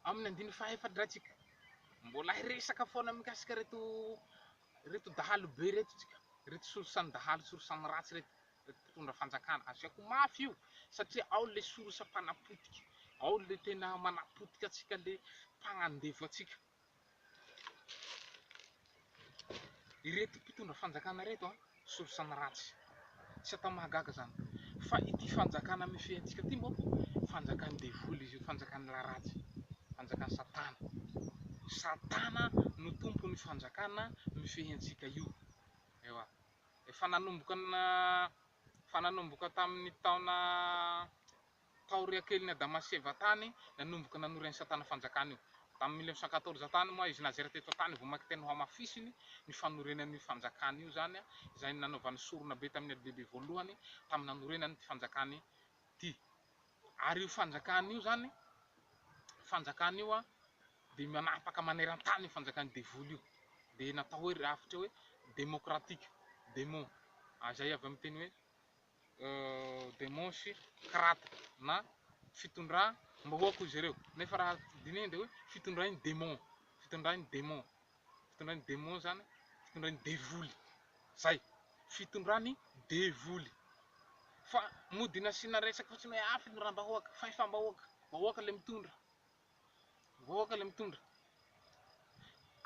Amin'ny andininy faha-efadratsika, mbola hiresaka foana mikasika ireto ireto dahalo be ireto tsika, ireto solosan-dahalo solosan-dratsy ireto, ireto mpitondra fanjakana. Asiako mafy io satria ao ilay solosa-mpanapotika, ao ilay tena manapotika antsika, ilay mpagnandevo antsika. Ireto mpitondra fanjakana ireto an, solosaina ratsy, tsy atao mahagaga izany fa ity fanjakana mifehy antsika ity moa fanjakan'ny devoly izy io, fanjakan'ny lahy ratsy, fanjakan'i satana, satana no tompon'io fanjakana mifehy antsika io, ewa, efa nanomboka efa nanomboka tamin'ny taona taoriakelin'i Adama sy Eva tany, nanomboka nanory an'i Satana fanjakana io. Tamin'ny mille neuf cent quatorze tany moa izy nazera teto an-tany vao maka tena hohamafisiny ny fanorenany io fanjakana io izany, izay nanaovany sorona be tamin'ny adilehibe voalohany tamin'ny nanorenany ity fanjakana ity. Ary io fanjakana io izany, fanjakana io dia manapaka maneran-tany io fanjakan'ny devoly io, dia natao hoe rafitra hoe demokratika, demo, izay avy amin'ny teny hoe demônsy karàta na fitondram-bahoaka hoy izy ireo, nefa raha dinihina dia hoe fitondran'ny demon, fitondran'ny demon, fitondran'ny demon izany fitondran'ny devoly, zay, fitondran'ny devoly, fa mody nasiana resaka fotsiny hoe afo ny rà-bahoaka, fahefam-bahoaka, vahoaka ilay mitondra. Vahoaka ilay mitondra.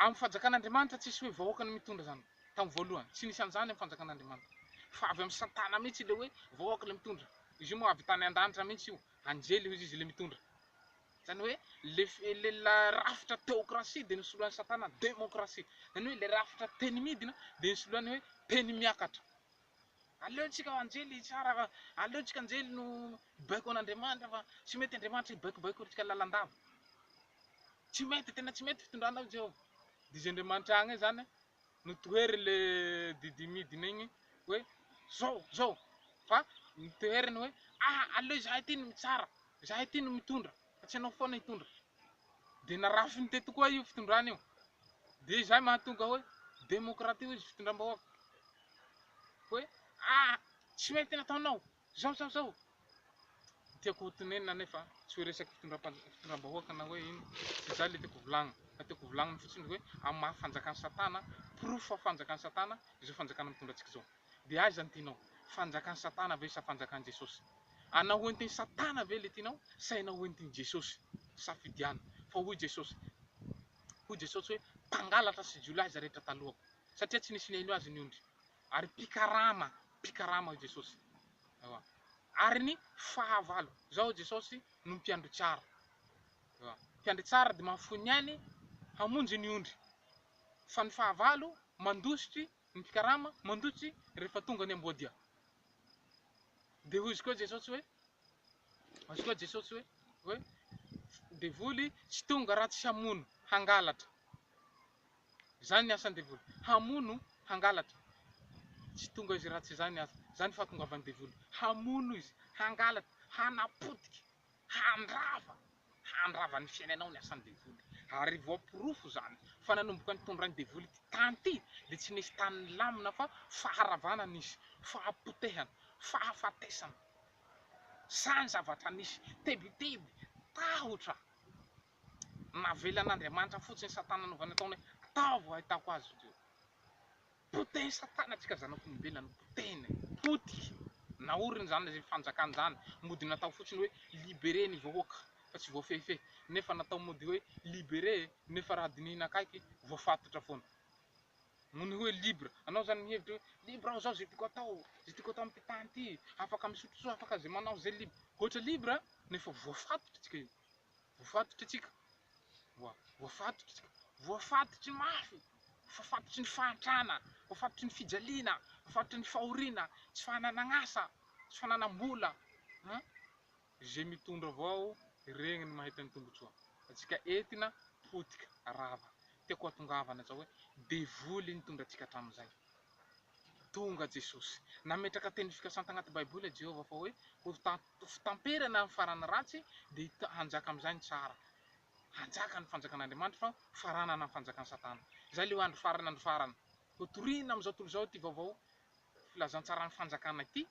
Amin'ny fanjakan'Andriamanitra tsisy hoe vahoaka no mitondra izany tamin'ny voalohany. Tsy nisy an'izany amin'ny fanjakan'Andriamanitra. Fa avy amin'i Satana mihitsy ilay hoe vahoaka ilay mitondra. Izy io moa avy tany an-danitra mihitsy io. Anjely hoy izy ilay mitondra. Izany hoe ilay rafitra teokrasia dia nosoloan'i Satana demokrasia. Izany hoe ilay rafitra teny midina dia nosoloany hoe teny miakatra. Aleontsika anjely hitsara fa aleontsika anjely no hibaiko an'Andriamanitra fa tsy mety Andriamanitra hibaikobaiko antsika lalandava. Tsy mety, tena tsy mety fitondranao i Jehovah. Dia izay Andriamanitra agny izany no tohery le didy midina igny hoe zao, zao, fa ny toheriny hoe aha aleo izahay ty no mitsara, izahay ty no mitondra. fa tsy ianao foana hitondra, dia narafiny teto koa io fitondrana io, dia izay mahatonga hoe demokratia hoy izy fitondram-bahoaka, hoe ah tsy mety nataonao zao zao zao, tiako ho tonenina anefa tsy hoe resaky fitondram-bahoaka na hoe ino, tsy izay ilay tiako volagnina, fa tiako volagnina fotsiny hoe amin'ny maha fanjakan'i satana, porofo fa fanjakan'i satana izao fanjakana mitondra antsika izao. Dia aiza ny tianao? Fanjakan'i Satana ve sa fanjakan'i Jesosy? Hanao entin'i Satana ve ilay tianao sa hanao entin'i Jesosy? Safidiano. Fa hoy Jesosy, hoy Jesosy hoe, Mpangalatra sy jiolahy izay rehetra talohako, satria tsy nisy nihaino azy ny ondry. Ary mpikarama, mpikarama hoy Jesosy. Ewa. Ary ny fahavalo. Izao hoy Jesosy, no mpiandry tsara. Ewa. Mpiandry tsara dia mahafoy ny ainy hamonjy ny ondry. Fa ny fahavalo mandositry Ny mpikarama mandotsy rehefa tonga ny amboadia. Dia hoy izy koa Jesosy hoe, hoy izy koa Jesosy hoe, hoe devoly tsy tonga raha tsy hamono, hangalatra. Izany ny asan'ny devoly, hamono, hangalatra. Tsy tonga izy raha tsy izany asa. Izany fahatongavan'ny devoly, hamono izy, hangalatra, hanapotika. handrava handrava ny fiainanao ny asan'ny devoly ary voaporofo izany fa nanomboka nitondrany devoly ity tany ity dia tsy nisy tany nilamina fa faharavana nisy, fahapotehana, fahafatesana, izany zavatra nisy, tebiteby, tahotra, navelan'Andriamanitra fotsiny satana nanaovany ataony hoe ataovy ho ahitako azy ireo. Potehin'i Satana antsika zanak'olombelona no potehiny e! Potika, naoriny izany ilay fanjakany izany, mody natao fotsiny hoe libere ny vahoaka fa tsy voafehifehy, nefa natao mody hoe libere nefa raha dinihina akaiky voafatotra foana. Noho ny hoe libre, anao izany mihevitra hoe libre aho izao izay tiako atao, izay tiako atao amin'ity tany ity, afaka misotro soa, afaka izay manao izay, libre, ohatra libre nefa voafatotra antsika io. Voafatotra isika, voafatotra isika, voafatotry ny mafy, voafatotry ny fahantrana, voafatotry ny fijaliana, voafatotry ny fahoriana, tsy fananan'asa, tsy fananam-bola an! Izay mitondra avao regny no mahita ny tombotsoa, antsika entina potika rava, tiako hatongavana zao hoe devoly nitondra antsika hatramin'izay, tonga Jesosy, nametraka teny fikasany tagnaty baiboly Jehovah fa hoe ho ta Ho fitamperana ny faran'ny ratsy, dia hanjaka amin'izay ny tsara. Hanjaka ny Fanjakan'Andriamanitra fa ho faranana ny fanjakan'i Satana. Izay ilay andro farany, andro farany. Hotorina amin'izao tontolo izao ity vaovao filazantsaran'ny Fanjakana ity,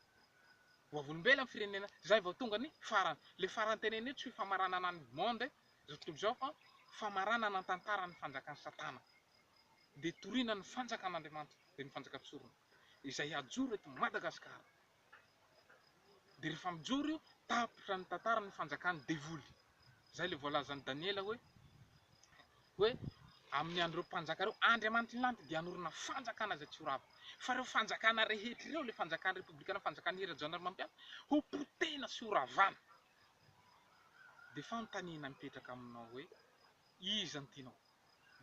ho vavolombelona ny firenena, izay vao tonga ny farany. Ilay farany tenenina io tsy hoe famaranana ny monde izao tontolo izao fa famaranana ny tantaran'ny fanjakan'i Satana. Dia torina ny Fanjakan'Andriamanitra, dia ny Fanjakan-tsorona izay hajoro eto Madagasikara. Dia rehefa mijoro io, tapitra ny tantaran'ny fanjakan'ny devoly. Izay ilay voalazan'i Daniela hoe, hoe amin'ny andron'ireo mpanjaka ireo, Andriamanitry ny lanitra dia hanorina fanjakana izay tsy ho rava. Fa ireo fanjakana rehetra ireo, ilay fanjakan'ny Repoblikana, fanjakan'ny hery Rajaonarimampianina, hopotehina sy horavana. Dia fanontaniana mipetraka aminao hoe, iza no tianao?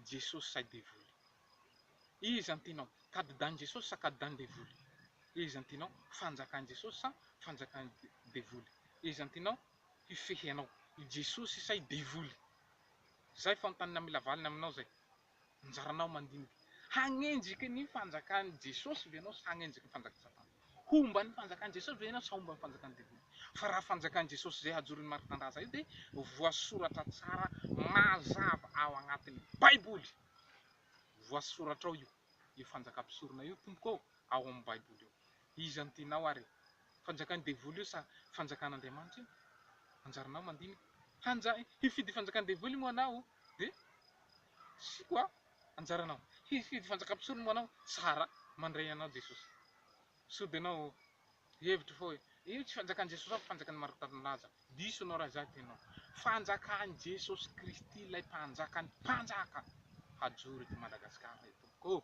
Jesosy sa i Devoly? Iza no tianao, kadidan'i Jesosy sa kadidan'i Devoly? Iza no tianao, fanjakan'i Jesosy sa fanjakan'i Devoly? Iza no tianao hifehy anao, i Jesosy sa i Devoly? Izay fanontaniana mila valiny aminao izay. Anjaranao mandinika. Hanenjika ny fanjakan'i Jesosy ve ianao sa hanenjika ny fanjakan'i Satana? Homban'ny fanjakan'i Jesosy ve ianao sa homban'ny fanjakan'ny devoly? Fa raha fanjakan'i Jesosy izay hajorin'ny maripandraza io dia voasoratra tsara mazava ao agnatin'ny baiboly. Voasoratra ao io, io fanjakam-pisorona io tompoko ô, ao amin'ny baiboly ao. Iza no tianao ary e? Fanjakan'ny devoly io sa fanjakan'Andriamanitra io? Anjaranao mandinika. Hanja, hifidy fanjakan'ny devoly moa anao? Dia, tsy ko a! anjaranao. Hifidy fanjakam-pisolo moa anao, tsara mandray anao Jesosy. Sao dia anao hevitra fa hoe, io tsy fanjakan'i Jesosy fa fanjakan'i Maritaninolaza. Diso anao raha izany tenao. Fanjakan'i Jesosy Kristy ilay mpanjakan'ny mpanjaka hajoro eto Madagasikara etompoko ô!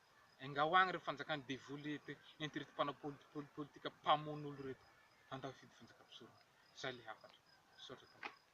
Engaho agny re fanjakan'ny devoly ento reto mpanao politpol politika mpamono olo reto handao hifidy fanjaka mpisorona. Zay le hafatra. Misaotra tompoko.